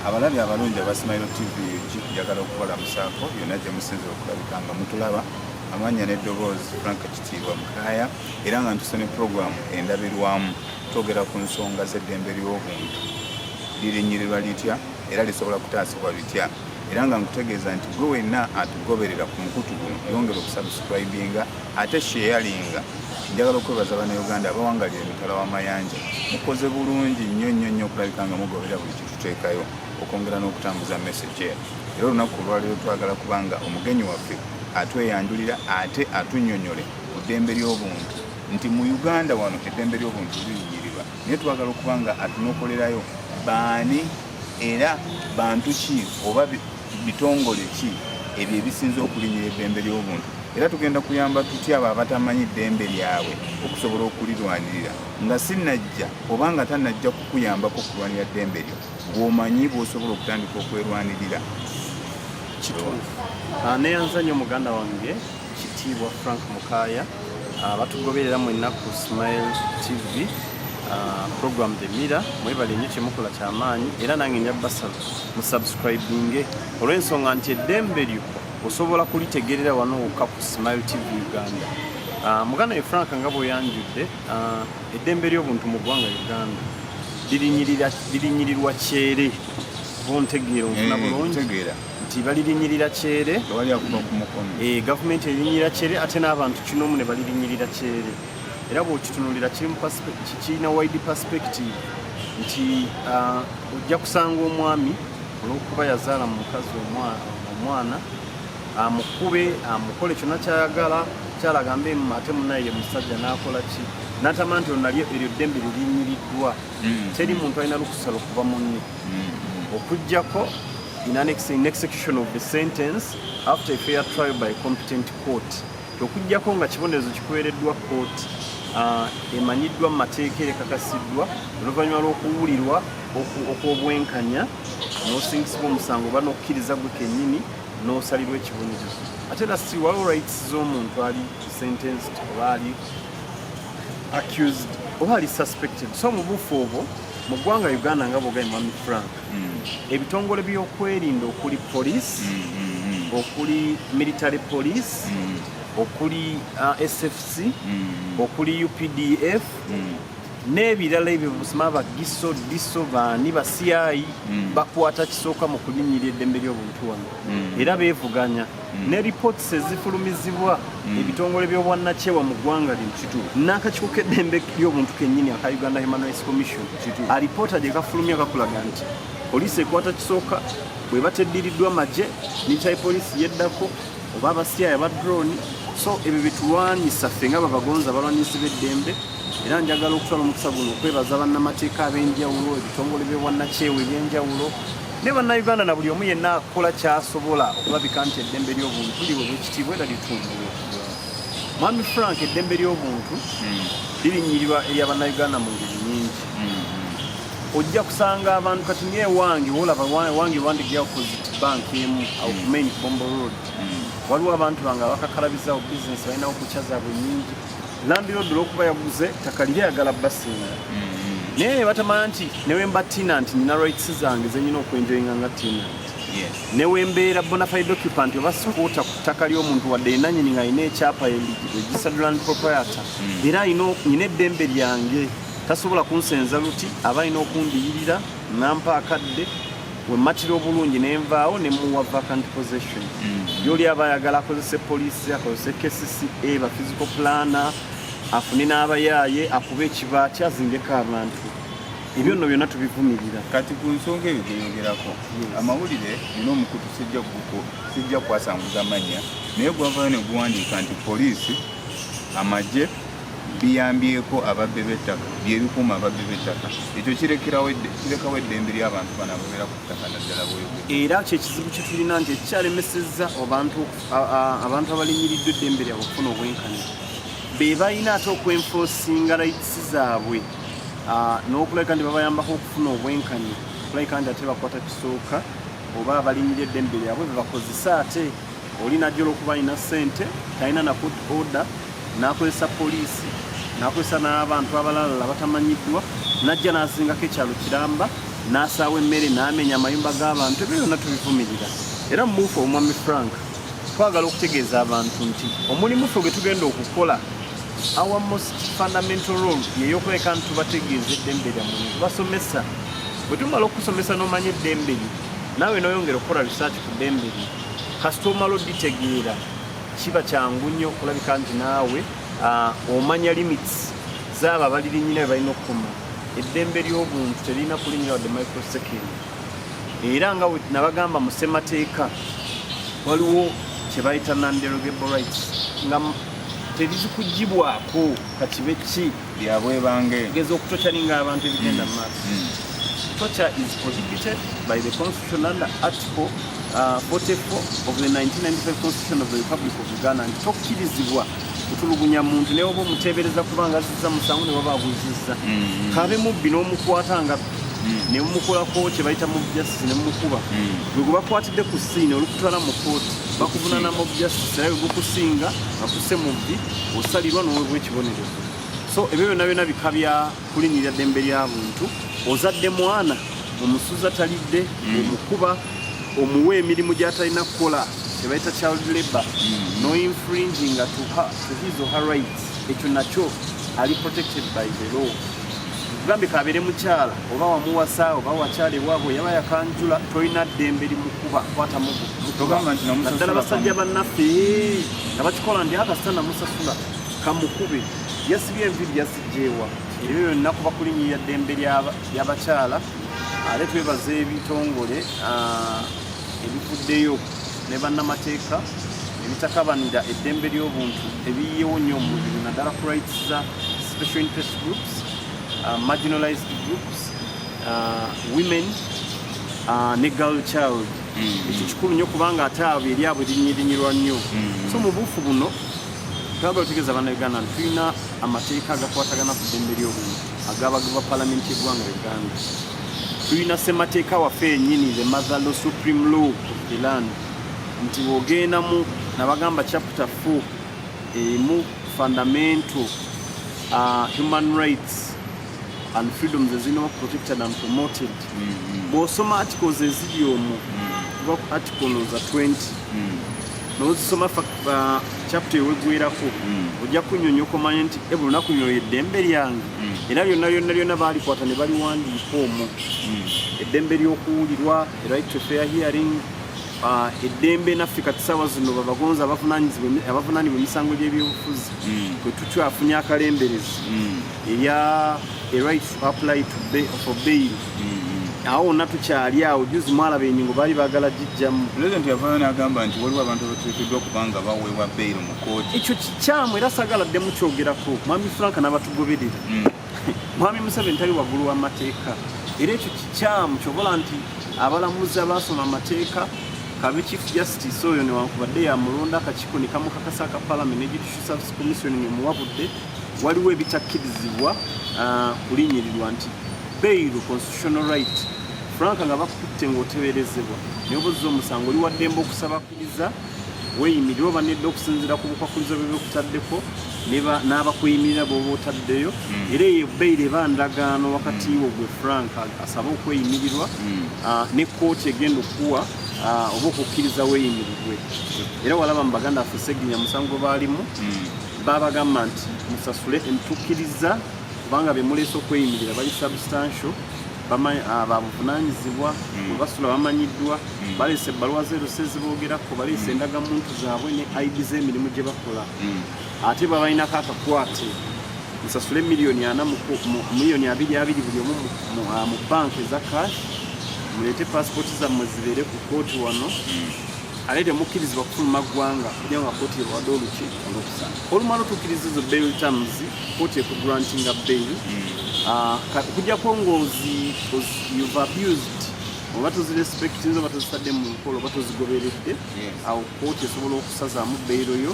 abalabi abalungi aba smile tv njagala okukola musanko yonna gye musinzira okulabika nga mutulaba amanya n'eddoboozi frank kitiibwa mukaya era nga ntuse ne puroguramu endabirwamu twogera ku nsonga z'eddembe ly'obuntu lirinyirirwa litya era lisobola kutaasibwa bitya era nga nkutegeeza nti gwe wenna atugoberera ku mukutu guno yongera okusubscribinga ate sheyalinga njagala okwebaza banauganda abawangalira emitala w'amayanja mukoze bulungi nnyo nnyo nnyo okulabika nga mugoberera buli kituteekayo okwongera n'okutambuza message eyo era olunaku olwaleero twagala kuba nga omugenyi waffe atweyanjulira ate atunyonyole ku ddembe ly'obuntu nti mu uganda wano eddembe ly'obuntu liyiyirirwa naye twagala okuba nga atunokolerayo baani era bantu ki oba bitongole ki ebyo ebisinza okulinyira eddembe ly'obuntu era tugenda kuyamba tutya abo abatamanyi ddembe lyabwe okusobola okulirwanirira nga sinajja oba nga tanajja kukuyambako okulwanira ddembe lyo bwomanyi bwosobola okutandika okwerwanirira kituufu ah, neyanza nyo muganda wange Kitiibwa Frank Mukaya abatugoberera mu ennaku Smile TV uh, program the mira mwebale nnyo kyemukola kyamaanyi era nange nja basala musubscribinge olw'ensonga nti eddembe lyo osobola kulitegerera wano wokka ku Smile TV Uganda uh, muganda ye Frank nga bweyanjudde uh, eddembe ly'obuntu mu ggwanga Uganda lirinyirirwa kyere bontegeera onfuna eh, bulungi nti balirinyirira kyere eh, gavumenti erinyirira kyere ate n'abantu kinomu ne balirinyirira kyere era bwokitunulira kirina wide perspective nti ah, ojja kusanga omwami olwokuba yazaala mu mukazi omwana amukube ah, amukole ah, kyona kyayagala kyalaga mbe ate munaye ye musajja nakola ki natama nti onalyo eryo ddembe lirinyiriddwa hmm. teri muntu alina lukusala okuva munne okujjako in an ex in execution of the sentence after a fair trial by competent court okujjako nga kibonerezo kikuweereddwa court uh, emanyiddwa mu mateeka erekakasiddwa oluvannyuma lw'okuwulirwa okw'obwenkanya n'osingisibwa omusango oba n'okukkiriza gwe kennyini n'osalirwa ekibonerezo ate era si waliwo rights z'omuntu ali sentenced oba ali accused oba ali suspected so mu bufu obwo mu ggwanga uganda nga bwogaye mwami frank hmm. ebitongole byokwerinda okuli police hmm, hmm, okuli military police okuli uh, sfc okuli updf n'ebirala ebyo busima bagiso diso baani basiyayi bakwata kisooka mu kulinyira eddembe ly'obuntu wano era beevuganya Mm. ne reports ezifulumizibwa mm. ebitongole by'obwannakyewa mu ggwanga lino kituufu n'akakiiko k'eddembe ly'obuntu kennyini aka uganda human rights commission kituufu alipoota gye kafulumya kakulaga nti poliisi ekwata kisooka bwe bateddiriddwa magye military poliisi yeddako oba abasiyaya ba drone so ebyo bitulwanyisa ffe nga babagonza balwanyisi b'eddembe era njagala okutwala omukisa guno okwebaza bannamateeka ab'enjawulo ebitongole by'obwannakyewa eby'enjawulo ne bannayuganda na buli omu yenna akola kyasobola okulabika nti eddembe ly'obuntu liwe bwekitiibwa era litunduwe mwami frank eddembe ly'obuntu hmm. lirinyirirwa erya bannayuganda mu ngeri nyingi hmm. ojja kusanga abantu kati ngaewange wolaba wange wandigyawo posit bank emu akumain hmm. bombo road waliwo abantu bange abakakalabizawo bisinesi balinawo kukya zaabwe nyingi landiroodi olwokuba yaguze ttaka liri ayagala basinga mm-hmm. naye nebatamanya nti newemba tenant nina rights zange zenyina okwenjoyinga nga tenant newembeera bonafide occupant oba sikuuta ku ttaka ly'omuntu wadde enanyini nga alina ekyapa registered land proprietor mm. era nyina eddembe lyange tasobola kunsenza luti aba alina okundiyirira nampa akadde wemmatira obulungi ne nvaawo ne muwa vacant possession mm-hmm. yoli aba ayagala akozese poliisi akozese kcca ba physical plana afune n'abayaaye akuba ekibaati azingeko abantu ebyo nno byonna tubivumirira kati ku nsonga eyo gyeyogerako amawulire nina omukutu sijja guko sijja kwasanguza mannya naye gwavayo ne guwandiika nti poliisi amagye biyambyeko ababbi b'ettaka byebikuuma ababbi b'ettaka ekyo kirekawo eddembe ly'abantu bano ababeera ku ttaka naddala bweyogera era kyekizibu kyetulina nti ekikyalemesezza abantu abalinyiridde eddembe lyabwe okufuna obwenkanya be balina ate okwenfosinga layitisi zaabwe n'okulabika nti babayambako okufuna obwenkanya okulabika nti ate bakwata kisooka oba abalinyira eddembe lyabwe bebakozesa ate oli najja olwokuba alina ssente talina nakut order n'akozesa poliisi n'akozesa n'abantu abalalala batamanyiddwa n'ajja n'azingako ekyalo kiramba n'asaawa emmere n'amenya amayumba g'abantu ebyo byonna tubivumirira era mubuufu omwami frank twagala okutegeeza abantu nti omulimu ffe gwe tugenda okukola our most fundamental role yeyokuleka nti tubategeeza eddembe lyammwe netubasomesa bwe tumala okusomesa n'omanya eddembe lyo naawe n'oyongera okukola risaaki ku ddembe lyo kasita omala oditegeera Kiba kyangu nnyo okulabika nti naawe ah, omanya limits zaabo abalirinyina bebalina okukuma eddembe ly'obuntu teririna kulinyira wadde microsecond era nga nabagamba mu ssemateeka waliwo kyebayita nanderogeble rights nga terizikugibwako kakibe ki byabwebangeeza okutokyaninga abantu ebigenda mu maaso mm. mm. torture is prohibited by the constitution under article uh, 44 of the 1995 constitution of the republic of uganda nti tokkirizibwa kutulugunya muntu naye oba omuteebereza kubanga azizza musango ne baba aguzizza mm. kabe mubbi n'omukwata nga mm. ne mumukolako kye bayita mob justice ne mumukuba mm. gwe gwe bakwatidde ku siini olukutwala mu kooti bakuvunana mob justice era gwe gukusinga akuse mubbi osalirwa n'owebwa ekibonerezo so ebyo byonna byonna bika bya kulinnyirira ddembe lya buntu ozadde mwana omusuza talidde mm. omukuba omuwa emirimu gy'atalina kukola tebayita child labor mm. no infringing to her, to his or her rights ekyo nakyo ali protected by the law gambe kabeere mukyala oba wamuwasa oba wakyala ewaabwe yaba yakanjula tolina ddembe limukuba kwata muguddala basajja bannaffe nga bakikola ndi akasita namusasula kamukube yasibye enviri yasijjeewa ebyo byonna kuba kulinyirira ddembe lyabakyala ate twebaza ebitongole ebivuddeyo ne bannamateeka ebitakabanira eddembe ly'obuntu ebiyiyewo nnyo omubiri naddala ku rights za special interest groups uh, marginalized groups uh, women uh, ne girl child mm. ekyo kikulu nnyo kubanga ate abo eryabwe linyirinyirwa nnyo mm. so mu buufu buno Twagala otegeeza bana Uganda nti tulina amateeka agakwatagana ku ddembe ly'obuntu agabagibwa palamenti y'eggwanga Uganda. Tulina ssemateeka waffe yenyini the mother law supreme law of the land nti wogendamu nabagamba chapter 4 emu fundamental uh, human rights and freedoms ezirina protected and promoted mm-hmm. bwosoma articles eziri omu mm-hmm. kuva ku article noza 20 mm-hmm. nozisoma uh, chapta ewegwerako hmm. ojja kunyonyo okomanya nti e bulunaku lino eddembe lyange hmm. era lyonna lyonna lyonna balikwata ne baliwandiika omwo hmm. eddembe ly'okuwulirwa right to fair hearing uh, eddembe naffe kati saawa zino babagonza abavunanibwa emisango gy'ebyobufuzi kwe tutyafunye akalemberezi erya a right to apply for bail awo wonna tukyali awo juzi mwalaba enyingo baali bagala gijjamu pulezidenti yavayo n'agamba nti waliwo abantu abateekeddwa okuba nga baweebwa beyiro mu kooti ekyo kikyamu era sagala ddemu kyogerako mwami frank n'abatugoberera mm. mwami museveni tali waggulu w'amateeka era ekyo kikyamu kyobola nti abalamuzi abaasoma amateeka kabe chief justice oyo newankubadde yamulonda akakiiko nekamukakasa aka palamenti ne judicial service commission nemuwabudde waliwo ebitakkirizibwa ah, kulinyirirwa nti bail constitutional right frank nga bakutte ng'oteberezebwa neobuzza omusango oli waddembe okusabakiriza weyimirira oba nedda okusinzira ku bukwakkulizo bwe bikutaddeko n'abakuyimirira bwoba otaddeyo hmm. era eyo bail eba ndagaano wakati hmm. wo gwe frank asaba okweyimirirwa hmm. ah, ne kkooti egenda okukuwa ah, oba okukkiriza weyimirirwe era walaba mu baganda affe seginya musango baalimu babagamba nti musasule emitukkiriza kubanga bemuleese okweyimirira bali substantial ah, babuvunanyizibwa mm. webasula bamanyiddwa mm. baleese ebbaluwa zeruse zibogerako baleese mm. endagamuntu zaabwe ne id z'emirimu gye bakola ate babalinako akakwate nsasule miliyoni ana miliyoni abiri abiri buli omu mu ah, banka eza cash muleete pasipooti zammwe zibeere ku kooti wano ate temukkirizibwa kufuluma ggwanga kuja nga kooti ebawadde oluki olukusana olumala otukkiriza ezo bail terms kkooti ekugrantinga bail okujjako hmm. ah, ngaoziuve abused oba tozirespectinze oba tozitadde mu nkola oba tozigoberedde awo kkooti esobola okusazaamu bail yo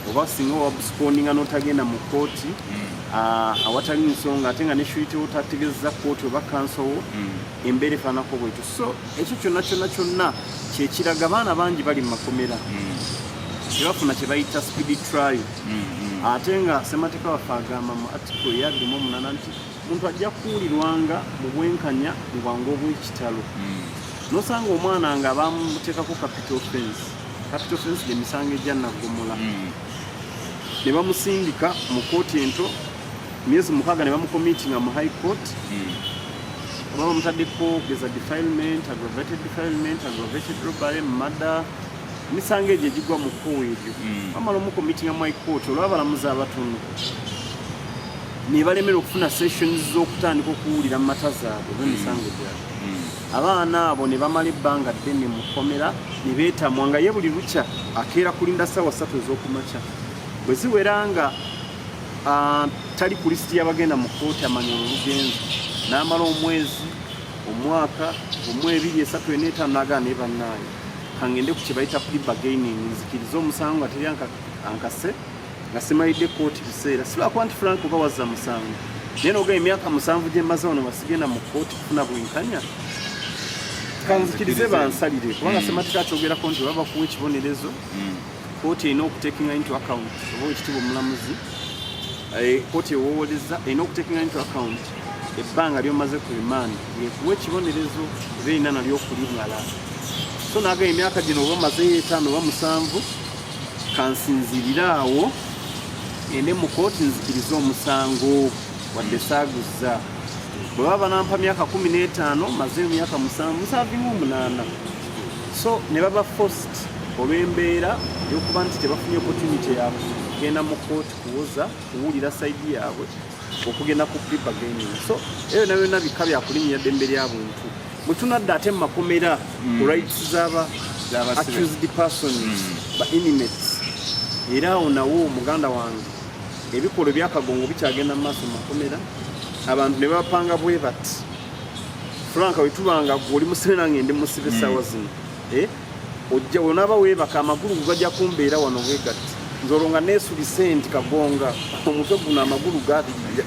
oba singa wabusikoninga notagenda mu kooti hmm. ah, awatali nsonga ate nga neshuyite otategezeza kooti oba kansowo hmm. embeera efaanako bwekyo so ekyo kyonna kyonna kyonna kyekiraga abaana bangi bali mu makomera hmm. tebafuna kyebayita speed trial mm-hmm. ate nga semateeka waffe agamba mu atiko eyaddumu omunana nti omuntu ajja kuwulirwanga mu bwenkanya mu bwangu obw'ekitalo mm. nosanga omwana nga bamuteekako capital fence capital fence gyemisango egya naggomola mm. ne bamusindika mu kooti ento myezi mukaaga ne bamukomitinga mu high court mm. oba bamutaddeko geza defilement aggravated defilement aggravated robbery murder emisango egyo egigwa mu kkuwa eryo hmm. bamala omukomitinga mu ikooti olw'abalamuzi abatono ne balemera okufuna sessions z'okutandika okuwulira mu mata zaabwe oba emisango hmm. gyabwe hmm. abaana abo ne bamala ebbanga ddene mu kkomera ne beetamwa nga ye buli lukya akeera kulinda ssaawa ssatu ez'okumakya bwe ziwera nga ah, tali ku lisiti y'abagenda mu kkooti amanya olugenzi n'amala omwezi omwaka omwebiri esatu eneetaano agaa naye bannaayo kangende ku kyebayita plea bargaining nzikirize omusango nga teri ankase nga simalidde kooti biseera silwakuba nti frank oba wazza musango naye noga emyaka musanvu gyemaze wano basigenda mu kooti kufuna bwenkanya kanzikirize bansalire kubanga hmm. sematika akyogerako nti baba bakuwa ekibonerezo hmm. kooti erina okutekinga into account oba ekitibwa omulamuzi eh, kooti ewowoleza erina okutekinga into account ebbanga lyomaze ku remand yekuwa ekibonerezo oba erina nalyo okulimala so naga emyaka gino oba omazeyo etaano oba musanvu kansinzirire awo ende mu kooti nzikirize omusango wadde saaguzza bwe baba banampa myaka kumi n'etaano mazeyo myaka musanvu musanvinga omunaana so ne baba fost olw'embeera yokuba nti tebafunye opportunity yakugenda mu kooti kuwoza kuwulira saidi yaabwe okugenda ku pipa gaming so eyo nayo na bika bya kulinya dembe lya buntu mutunadde ate makomera mm. ku rights zaba accused persons mm. ba inmates era awo nawo muganda wange ebikolwa ebyakagongo bikyagenda mu maaso makomera abantu ne bapanga bwe bati franka wetubanga gwe oli musibe nange ndi musibe mm. sawa zino eh? ojja wenaaba weebaka amagulu gugajja kumbeera wano bwegatti nze olwo nga neesulise nti kagonga omutwe guno amagulu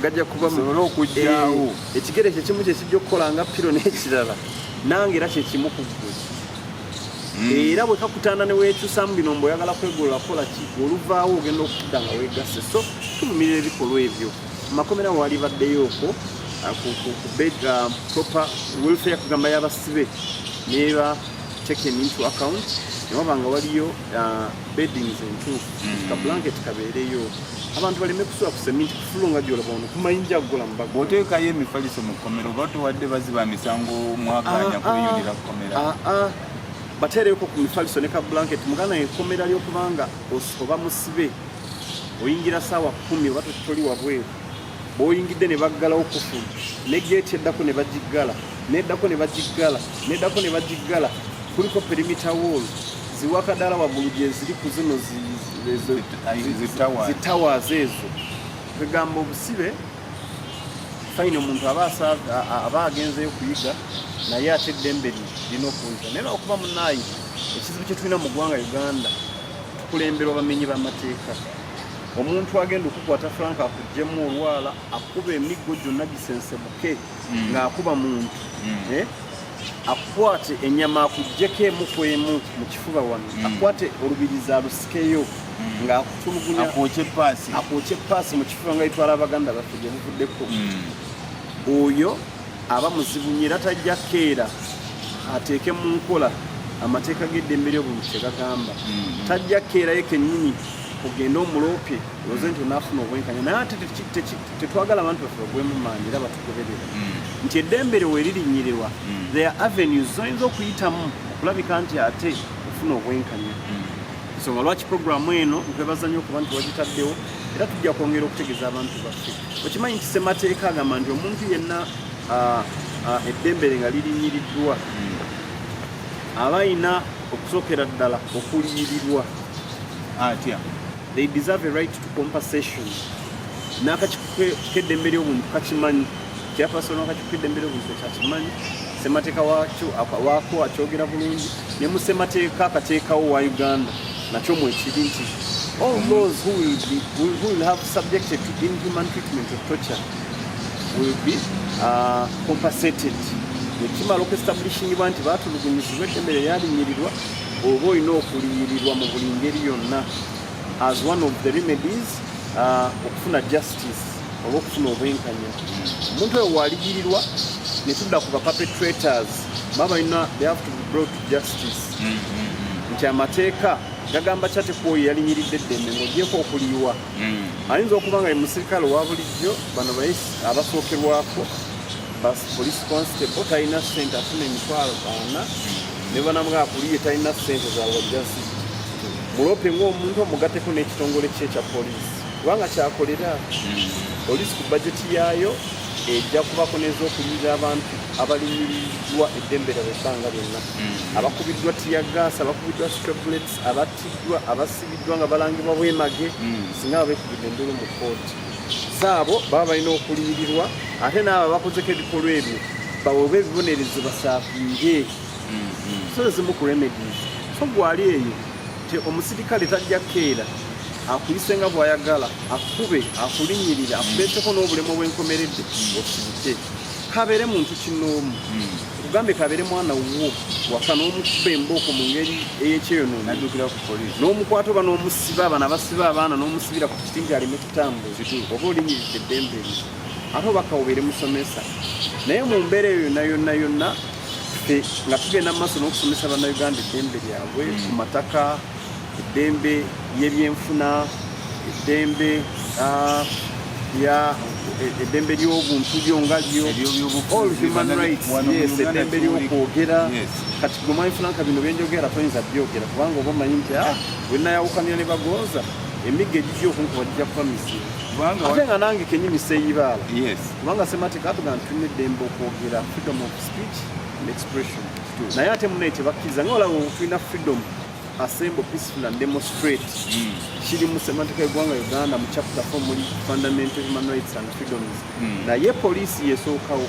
gajja kubasobole okujjawo eh, ekigere kyekimu kyekijja okukola nga piro n'ekirala nange era kyekimu ku ggwe hmm. era bwe kakutanda ne weekyusamu bino mbu oyagala kwegolola kola ki oluvaawo ogenda okudda nga weegasse so tuvumirira ebikolwa ebyo makomera waali baddeyo okwo ah, ku ah, proper welfare kugamba y'abasibe neba taken into account newaba nga waliyo uh, beddings entuufu mm. ka blanket kabeereyo abantu baleme kusula ku seminti kufulu nga gyolaba ono kumayinja agola mubaga bwoteekayo emifaliso mu kkomero oba towadde baziba misango mwaganya ah, ah. kuyundira kukomera ah, bateereko ku mifaliso ne ka blanket muganda enkomera lyokubanga oba musibe oyingira saawa kumi oba toli wabweru boyingidde ne baggalawo kufulu ne geeti eddako ne bagiggala neddako ne bagiggala neddako ne bagiggala kuliko perimita wall ziwakadala waggulu gyeziri ku zino zitawazi ezo kwegamba obusibe fayina omuntu aba agenzeyo okuyiga naye ate eddembe lirina okuwuza naye naokuba munaayi ekizibu kyetulina mu ggwanga uganda tukulemberwa bamenyi bamateeka omuntu agenda okukwata frank akugjemu olwala akuba emiggo gyonna gisensemuke mm. ng'akuba muntu mm. eh? akwate enyama akugjeko emu ku emu mu kifuba wano mm. akwate olubirizi alusikeyo ng'akutulugunya akwokye epaasi mu kifuba nga itwala abaganda baffe gye buvuddeko oyo aba muzibu nyo era tajja keera ateeke mu nkola amateeka g'eddembe ly'obuntu kye gagamba mm-hmm. tajja keerayo kennyini ogende omuloope oze nti onaafuna obwenkanya naye ate tetwagala abantu baffe bagwemu maanyi era batugoberera mm. nti eddembe lyo weririnyirirwa mm. there avenues zoyinza okuyitamu okulabika nti ate ofuna obwenkanya mm. nsonga lwaki puroguramu eno nkwebaza nnyo okuba nti wagitaddewo era tujja kwongera okutegeeza abantu baffe okimanyi nti semateeka agamba nti omuntu yenna ah, ah, eddembe lye nga lirinyiriddwa aba ayina okusookera ddala okuliyirirwa atya they deserve a right to compensation n'akakikedembere obuntu kakimanyi kyapasono akakikedembere obuntu kyakimanyi semateeka wakyo waako akyogera bulungi ne mu semateeka akateekawo wa uganda nakyo mwekiri nti all those who will, be, who will have subjected to inhuman treatment of torture will be uh, compensated ekimala okuestablishinibwa nti batulugunyizibwa eddembe lyeyalinyirirwa oba olina okuliyirirwa mu buli ngeri yonna as one of the remedies uh, okufuna justice oba okufuna obwenkanya omuntu oyo waliyirirwa netudda ku bapapetrators baba balina they have to be brought to justice mm, mm, mm. nti amateeka gagamba kyate kwoyo yalinyiridde eddembe ngaogyeko okuliyiwa ayinza okuba nga ye musirikale owa bulijjo bano abasookerwako bas police constable talina sente afuna emitwalo baana ne banamwe akuliye talina ssente za wajjazi mulope ng'omuntu omugateko n'ekitongole kye ekya poliisi kubanga kyakolera hmm. poliisi ku bajeti yaayo ejja kubako n'ezokulirira abantu abalumiriddwa eddembe lyabwe ebbanga lyonna hmm. abakubiddwa tiyagaasi abakubiddwa strablets abattiddwa abasibiddwa nga balangibwa bwemage hmm. singa babekubidde endulu mu kooti zaabo baba balina okuliyirirwa ate naabo abakozeko ebikolwa ebyo baweebwa ebibonerezo basaafiire mm-hmm. so ezimu ku remedies so gwali eyo ti omusirikale tajja keera akuyise nga bwayagala akube akulinyirira akuleeteko n'obulemu obwenkomeredde mm. osirike kabeere muntu kinoomu mm. tugambe kabere mwana wuwo waka n'omukuba embooko mu ngeri ey'ekyeyonoona naddukira ku poliisi n'omukwata oba n'omusiba abana basiba abaana n'omusibira ku kiti nti aleme kutambuza oba olinyiridde eddembe lye ate obaka obeere musomesa naye mu mbeera eyo yonna yonna yonna nga tugenda mu maaso n'okusomesa bannayuganda eddembe lyabwe ku mataka eddembe ly'ebyenfuna eddembe ah, ya eddembe ly'obuntu lyo nga lyo all human rights yes eddembe ly'okwogera kati gwe mwanyi funanka bino byenjogera toyinza byogera kubanga oba omanyi nti ah wenayawukanira ne bagooza emigga egijja okunkuba gijja kuba misimu ate nga nange kenyini seyibaala kubanga semateeka atuga nti tulina eddembe okwogera freedom of speech and expression naye ate munaye tebakkiriza nga olaba tulina freedom assemble peaceful and demonstrate mm. kiri mu semantika egwanga uganda mu chapter 4 muli fundamental human rights and freedoms mm. naye poliisi yesookawo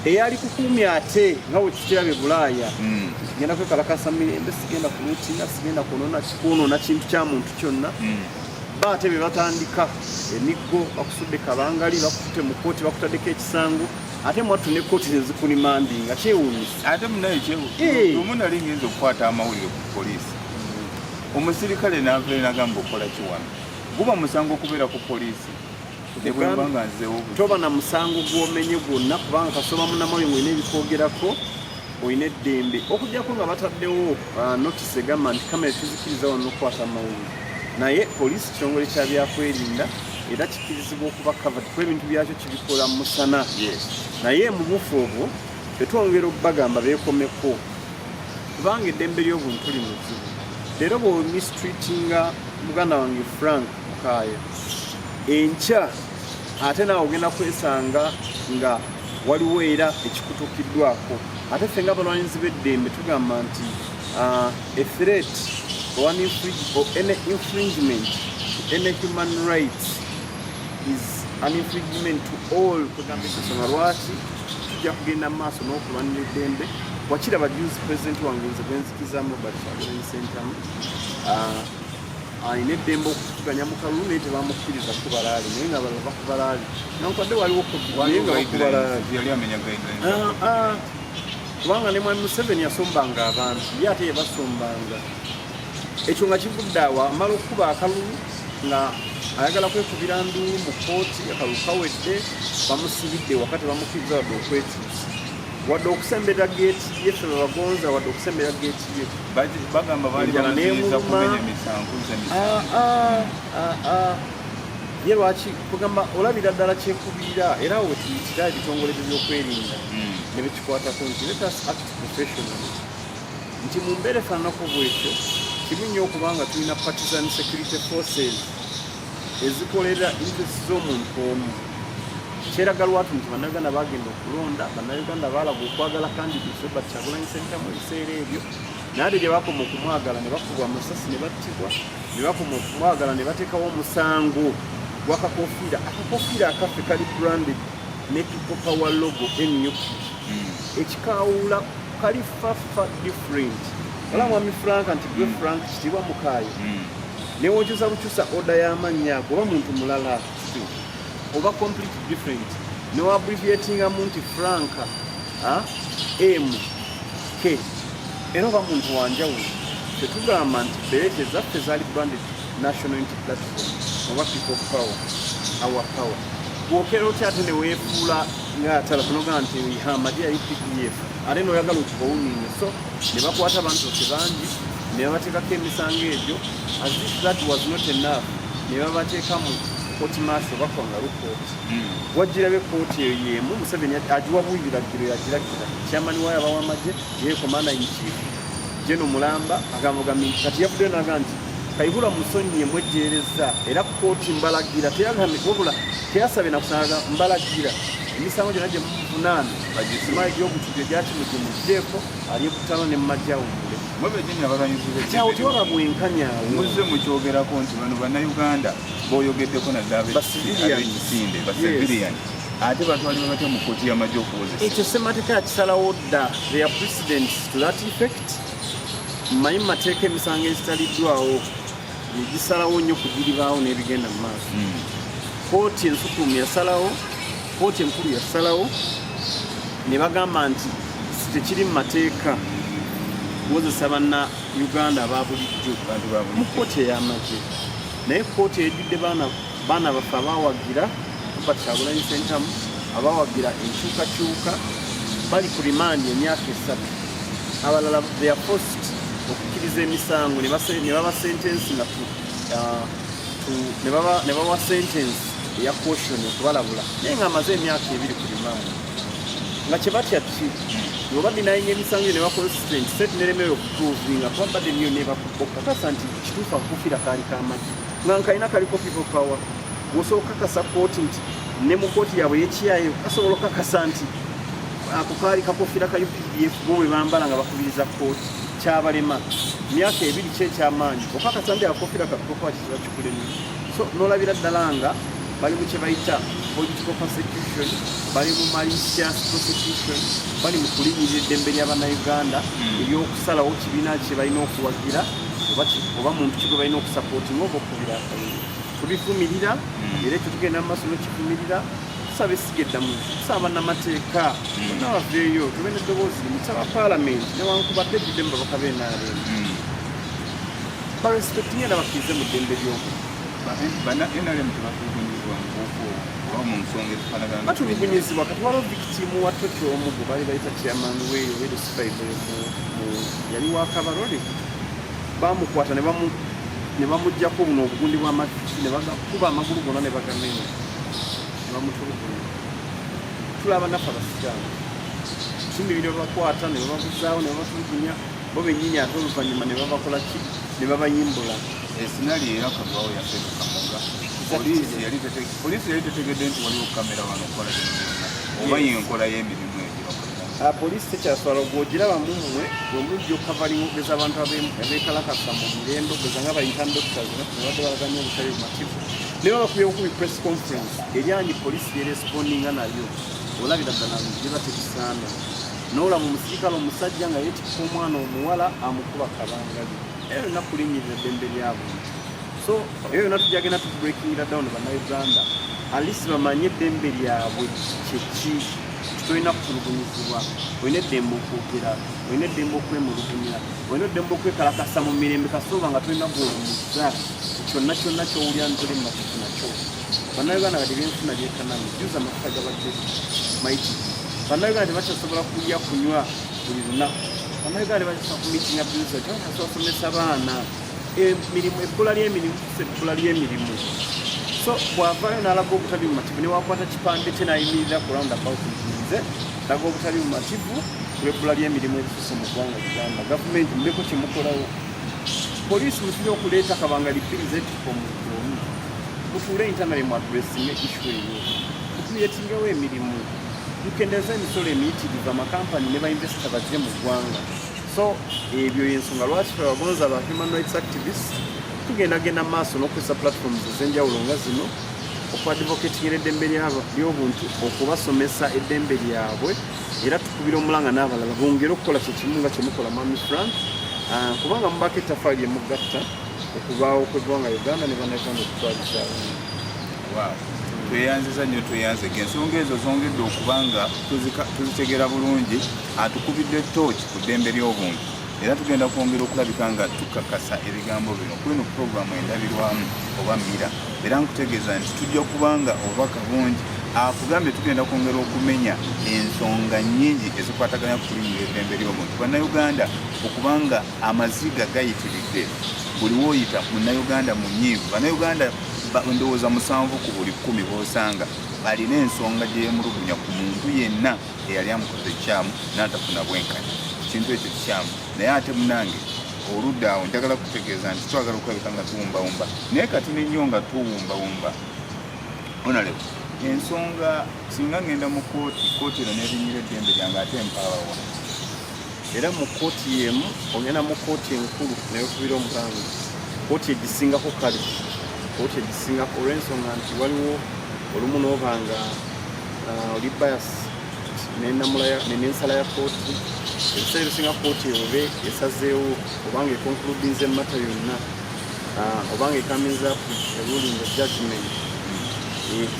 eyali kukuumya ate nga wekikiraba ebulaaya mm. genda kwekalakasa mirembe sigenda kulutina sigenda kwonoona kintu kya muntu kyonna mm. baate be batandika emiggo bakusudde kabangali bakutute mu kooti bakutadeko ekisango ate mwattu ne kkooti ze zikulimandinga kyewuunyisa ate munaye kyeomu eh. nali ngenza okukwata amawulire ku poliisi omusirikale navee nagamba okukola kiwano guba musango okubeera ku poliisi toba na musango gwomenye gwonna kubanga kasoba munamayo ngolina ebikwogerako olina eddembe okujjako nga bataddewo uh, notisi egamba nti kamera tuzikiriza wano okukwata amawulire naye poliisi kitongole kyabyakwerinda era kikirizibwa okuba covered kuba ebintu byakyo kibikola mu musana naye mu bufu obwo tetwongera okubagamba beekomeko kubanga eddembe ly'obuntu li mu zibu leero bwomistreatinga muganda wange frank mukaayo enkya ate naawe ogenda kwesanga nga waliwo era ekikutukiddwako ate ffe nga abalwanyizi b'eddembe tugamba nti Uh, a threat or, an infring- or any infringement to any human rights is an infringement to all kugamba ensonga lwaki tujja kugenda mu maaso n'okulwanira eddembe wakira bajuzi pulezidenti wange nze gwenzikizamu robert kyagulanyi sentamu alina eddembe okukuganya mu kalulu naye tebamukkiriza kubalaali naye nga balava kubalaali nankwadde waliwo naye nga bakubalaali kubanga ne mwami museveni yasombanga abantu ye ate yebasombanga ekyo nga kivudde awo amala okukuba akalulu nga ayagala kwekubira nduulu mu kooti akalulu kawedde bamusibidde wakati bamukiriza wadde okwekyusa wadde okusemberera geeti ye fe babagonza wadde okusemberera geeti ye bagamba bali balaziiza kumenya emisango ah, ah, ah, ye lwaki kugamba olabira ddala kyekubiira era wetuyitira ebitongole bye byokwerinda hmm. Kwata ku nti let us act professionally nti mu mbeera efaananako bwekyo kibi nnyo okuba nga tulina partisan security forces ezikolera interest z'omuntu omu kyeraga lwatu nti bannayuganda bagenda okulonda bannayuganda baalaga okwagala kandi bisoba kyagulanyi sentamu ebiseera ebyo naade gye bakoma okumwagala ne bakubwa amasasi ne battibwa ne bakoma okumwagala ne bateekawo omusango gwakakofiira akakofiira akaffe kali branded ne people power logo nup hmm. ekikawula kali fafa different wala hmm. mwami frank nti gwe hmm. frank kitiibwa mukaayo newokyusa bukyusa oda y'amannya ago oba muntu mulala oba complete different newabriviatingamu nti frank ah, m k era oba muntu wanjawulo tetugamba nti berete zaffe zaali branded national unity platform oba people power our power Bwokera otya ate newefuula nga atala kunogaa nti ha amagye yali pdf ate noyagala okubawuninga so ne bakwata abantu baffe bangi ne babateekako emisango egyo as if that was not enough ne babateeka mu koti maaso bakwanga lukooti hmm. wajjirabe kooti eyo yemu museveni agiwa buyiragiro yagiragira kyamani wayo abawa amagye yekomanda inchief jeno mulamba agamugambye kati yavuddeyo naga nti kaihura musonyiye mwejjeereza era kkooti mbalagira teyagambye wabula teyasabye nakusanga mbalagira emisango gyonna gye muvunaana bagisima egy'obutujju egyakimugi muggyeko ali ekutano ne mumajawumbule kyawo tewaba bwenkanyawo muzze mukyogerako nti bano bannayuganda boyogeddeko naddala abekisinde basivilian ate batwalibwa batya mu kkooti y'amagye okuwozesa ekyo ssemateeka yakisalawo dda their president to that effect mmanyi mu mateeka emisango ezitaliddwawo egisalawo nnyo ku biribaawo n'ebigenda mu maaso hmm. kooti ensukumu yasalawo kooti enkulu yasalawo ne bagamba nti tekiri mu mateeka kuwozesa banna uganda ababulijjo mu kooti ey'amagye naye kooti ejjudde baana baffe abawagira robert kyagulanyi sentamu abawagira enkyukakyuka bali ku rimandi emyaka esatu abalala they are forced okukkiriza emisango ne baba sentensi nga uh, ne bawa sentensi eya caution okubalabula naye nga amaze emyaka ebiri ku rimanda nga kyebatya ki oba dinayinga emisango ne baconsistent set neremewe okutuvinga kuba bade niyo nebakukakasa nti kituufu akukufira kaali kamagi nga nkalina kaliko people power wosobola okukakasa kooti nti ne mu kooti yabwe yekiyayo kasobola okukakasa nti ako kaali kakofira ka updf bo bwe bambala nga bakubiriza kooti kyabalema myaka ebiri ki ekyamaanyi oka katambi akofira kakokoa kiziba kikulemu so nolabira ddala nga bali mu kye bayita political persecution bali mu malicious prosecution bali mu kulinyirira eddembe lyabanauganda hmm. ery'okusalawo kibiina kye balina okuwagira oba muntu kigwe balina okusapootinga oba okubira akaire tubivumirira hmm. era ekyo tugenda mu maaso nokivumirira tusaba essiga eddamuzi tusaba bannamateeka hmm. bonna baveeyo tube neddoboozi limu tusaba paalamenti newankubadde edidde mu babaka b'enaale hmm. barespektinye era bakkirize mu ddembe ly'omu banna nrm tebatugunyizibwa mubuko oba mu nsonga ezifanagana batulugunyizibwa kati waliwo victimu wa toki omu gwe baali bayita chairman weyo wede sibaib yali wa kabarole bamukwata ne bamujjako buno obugundi bw'amaziki ne bagakuba amagulu gona ne bagamenya bamutulugunya tulaba naffe abasiraamu tumibira babakwata ne bababuzaawo ne babatulugunya bo bennyini ate oluvannyuma ne babakola ki ne babayimbula esinali era kagwawo yafeeka kamoga poliisi yali tetegedde nti waliwo kamera wano okukola oba yenkola y'emirimu ah, poliisi tekyaswala ogwogiraba mu mmwe wemujja okukavalinga okugeza abantu abekalakasa mu mirendo ogeza nga bayita doctors nebadde balaganya obutale bumativu naye babakubye bukubi press conference eryanyi police yeresipondinga nayo olabira ddala biba tebisaana nolaba omusirikale omusajja nga yetikisa omwana omuwala amukuba kabangali eyo yonna kulinyirira eddembe lyabuntu so eyo yonna tujagenda tubrekingira down banauganda alisi bamanye eddembe lyabwe kyeki tolina kutulugunyizibwa olina eddembe okwogera olina eddembe okwemulugunya olina eddembe okwekalakasa mu mirembe kasooba nga tolina gwolumuza kyonna kyonna kyowulira ntoli mumafufu nakyo bannayuganda kati byenfuna byekanami juza amafuta gabadde maiti bannayuganda tebakyasobola kulya kunywa buli lunaku bannayuganda tebakyasobola kumitinga biza tebakyasobola kusomesa baana emirimu ebbula lyemirimu kusa ebbula lyemirimu so bwavayo nalaga obutabi mumativu newakwata kipande kye nayimirira ku round about nze laga obutabi mumativu lwebbula lyemirimu ebisusa mu ggwanga uganda gavumenti muleko kyemukolawo Poliisi mutera okuleeta kabangali bbiri zetikka omuntu omu mutuule intanale mu adressinga ishu eyo mutuyetingewo emirimu mukendeeza emisolo emiyitirivu amakampani ne bainvesita bazze mu ggwanga so ebyo yensonga lwaki fe bagonza ba human rights activists tugendagenda mu maaso n'okukozesa platforms ez'enjawulo nga zino okuadvocatingira eddembe ly'obuntu okubasomesa eddembe lyabwe era tukubira omulanga n'abalala bongere okukola kye kimu nga kyemukola mami frank ah, kubanga mubaako ettafaali emugatta okubaawo kwegwanga uganda ne banauganda okutwalizawo tweyanziza nnyo tweyanzega ensonga ezo zongedde okubanga tuzitegeera bulungi atukubidde tooki ku ddembe ly'obuntu era tugenda kwongera okulabika nga tukakasa ebigambo bino kweno puroguramu endabirwamu oba mira era nkutegeeza nti tujja kubanga obubaka bungi akugambye tugenda kwongera okumenya ensonga nyingi ezikwataganya kukulimira eddembe ly'omuntu bannayuganda okubanga amaziga gayitiridde buli woyita munnayuganda munyiivu bannayuganda ndowooza musanvu ku buli kkumi bosanga balina ensonga gyeyemulugunya ku muntu yenna eyali amukoze ekikyamu n'atafuna bwenkanya ekintu ekyo kikyamu naye ate munange oludda awo njagala kutegeeza nti twagala okulabika nga tuwumbawumba naye kati nenyo nga tuwumbawumba onalew ensonga singa ngenda mu kooti kooti eno nebinyira eddembe lyange ate mpaawawa era mu kooti yemu ogenda mu kooti enkulu naye okubira omulango kooti egisingako kale kooti egisingako olwensonga nti waliwo olumu nobanga uh, oli bias nenamula nensala ya kooti ebiseera ebisinga kooti ewobe esazeewo obanga ekonkuludinze emmata yonna uh, obanga ekaminza ruling of judgment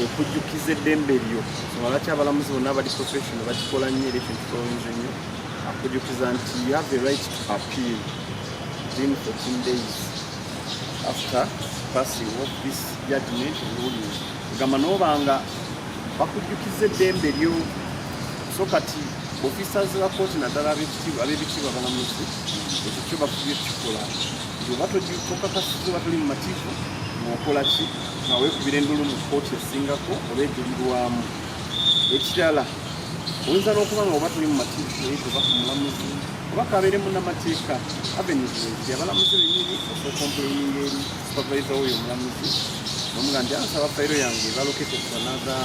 ekujjukiza eddembe lyo songa lwaki abalamuzi bonna abali profession bakikola nnyo era ekintu kyoyinza ennyo akujjukiza nti you have the right to appeal within 14 days after passing of this judgment ruling gamba noba nga bakujjukiza eddembe lyo so kati officers ba kooti naddala ab'ebitiibwa abalamuzi ekyo kyo bakubye kukikola nti oba tokakasiza oba toli mumativu ngaokola ki nga weekubira endulu mu kooti esingako oba ejulirwamu ekirala oyinza n'okuba nga oba toli mumativu eyo oba ku mulamuzi oba kabeeremu namateeka avenues abalamuzi benyini osokompeyinga eri Supervisor huyo mlamuzi namuga nti ansaba fayiro yange balokete kusanatha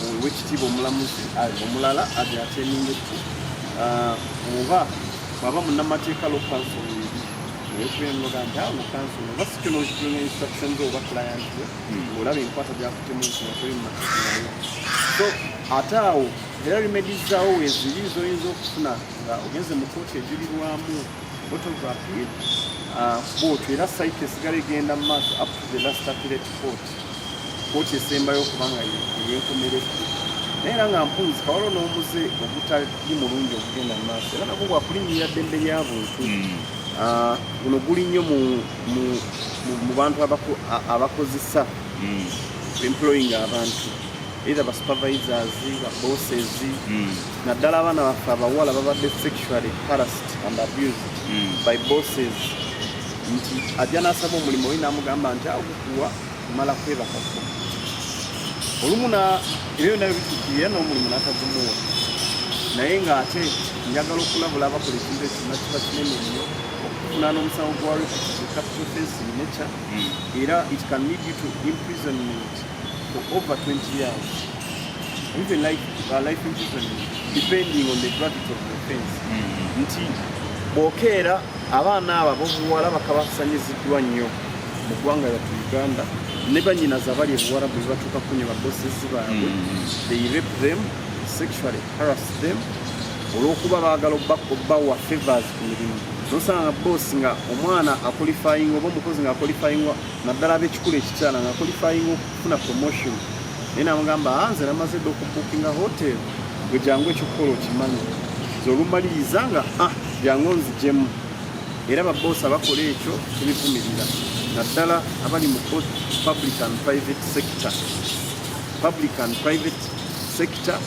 owekitiibwa omulamuzi omulala aze ateningeku oba bwaba munamateeka lokanso ekuyembaga nti awo kanso oba sikino okitunga instruction ze oba client we hmm. olaba enkwata gyakutemu nsinatoli mumateeka nayo so ate awo era rimedizaawo weziri zoyinza okufuna nga ogenze mu kooti ejulirwamu photography uh, boot era site esigala egenda mu maaso up to the last appellate court kooti esembayo okubanga eyenkomeredde naye era nga mpunzika waliwo n'omuze ogutali mulungi okugenda mu maaso era nagwo gwakulinnyirira ddembe lya buntu hmm. uh, guno guli nnyo mu bantu abakozesa hmm. employing abantu either basupervisors babosses hmm. naddala abaana baffe abawala babadde sexually harassed and abused mm. by bosses nti ajja n'asaba omulimu oli n'amugamba nti agukuwa mala kwebakako olumu ebyo byona bitukirira n'omulimu n'atagumuwa naye ng'ate njagala okulabula abakola ekintu ekina kiba kinene nnyo okufuna n'omusango gwa repetitive capital offense in nature mm. era it can lead you to imprisonment for over 20 years even like uh, life insurance depending on the gravity of the offense mm-hmm. nti bwokeera abaana abo abobuwala bakabasanyiziddwa nnyo mu ggwanga lyatu uganda ne banyinaza abali ebuwarabu bebatuuka kunya babosesi baabwe mm-hmm. they rape them sexually harass them olwokuba baagala okubawa favors ku mirimu nosanga bosi nga omwana akolifayinga oba omukozi nga akolifayingwa naddala ab'ekikula ekikyala nga qualifying okufuna promotion naye namugamba ah, nze namaze dda okubukinga hotel gwe jangu ekyokukola okimanyi zolumaliriza nga ah, jangu nzijemu era baboosi abakola ekyo tubivumirira naddala abali mu public and private sector public and private sector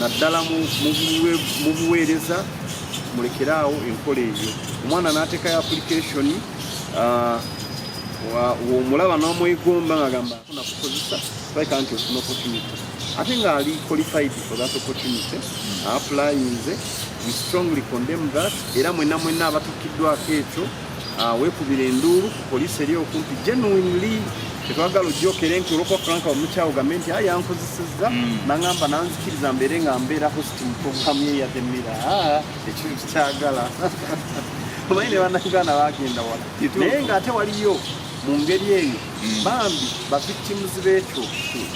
naddala mu buweereza mulekeraawo enkola eyo omwana n'ateekayo application ah, womulaba nomwegomba ngagamba afuna kukozesa like anti ofuna opportunity ate nga ali qualified for that opportunity aplayinze we strongly condemn that era mwena mwena abatukiddwako ekyo ah, wekubira enduulu ku polisi eri okumpi genuinely tetwagala ojjokere nti olwokuba franka omukyawo gambe nti aye yankozesezza mm. nangamba nanzikiriza mbeere nga mbeera hosti muprogramu eyademira ekintu kikyagala omanyi ne bannayuganda bagenda wala naye ng'ate waliyo mu ngeri eyo mm. bambi bavictims b'ekyo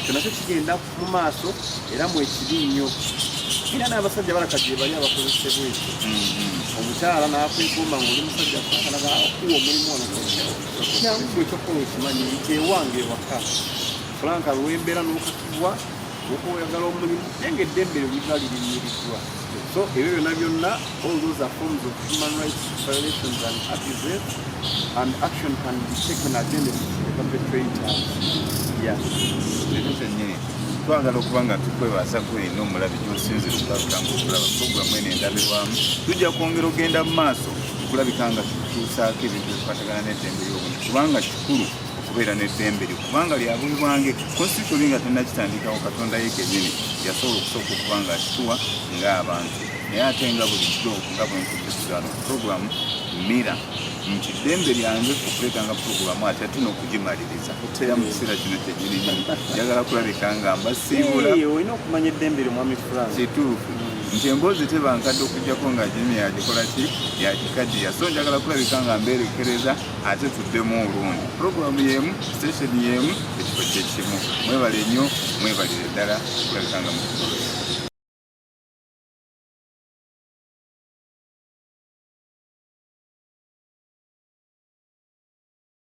kyonakyo kigenda mu maaso era mwekiri nnyo era n'abasajja balaka gye bali abakozesebwa ekyo mm-hmm. omukyala n'akwegomba nga oli musajja akalaga okuwa omulimu ono kyangu ekyokukola okimanyi nti ewange ewaka franka lwembeera n'okakibwa oba oyagala omulimu naye nga eddembe lyo liba lirinyiriddwa so ebyo byona byonna all those are forms of human rights violations and abuses and action can be taken against the perpetrator yes leero kyennyini twagala okuba nga tukwebaza kweno omulabi gyosinze tukakangu okulaba programu eno endabirwamu tujja kwongera ogenda mu maaso okulabika nga tutuusaako ebintu ebikwatagana n'eddembe ly'obuntu kubanga kikulu okubeera n'eddembe lyo kubanga lyabuibwange konstitutuli nga tenakitandikawo katonda ye kenyini yasobola okusooka okuba nga akituwa ng'abantu naye ate nga bulijjo nga bwenkukisigano puroguramu mira nti eddembe lyange okuleetanga puroguramu ate ate n'okugimaliriza era mu kiseera kino kyenyininyini njagala kulabika nga mbasiibula olina okumanya eddembe lyo mwami frank kituufu nti emboozi tebankadde okujjako nga jini yagikola ki yagikaddiya so njagala kulabika nga mbeerekereza ate tuddemu olundi pulogulaamu y'emu sitesheni y'emu ekifo kyekimu mwebale nnyo mwebalire ddala kulabika nga mukugolola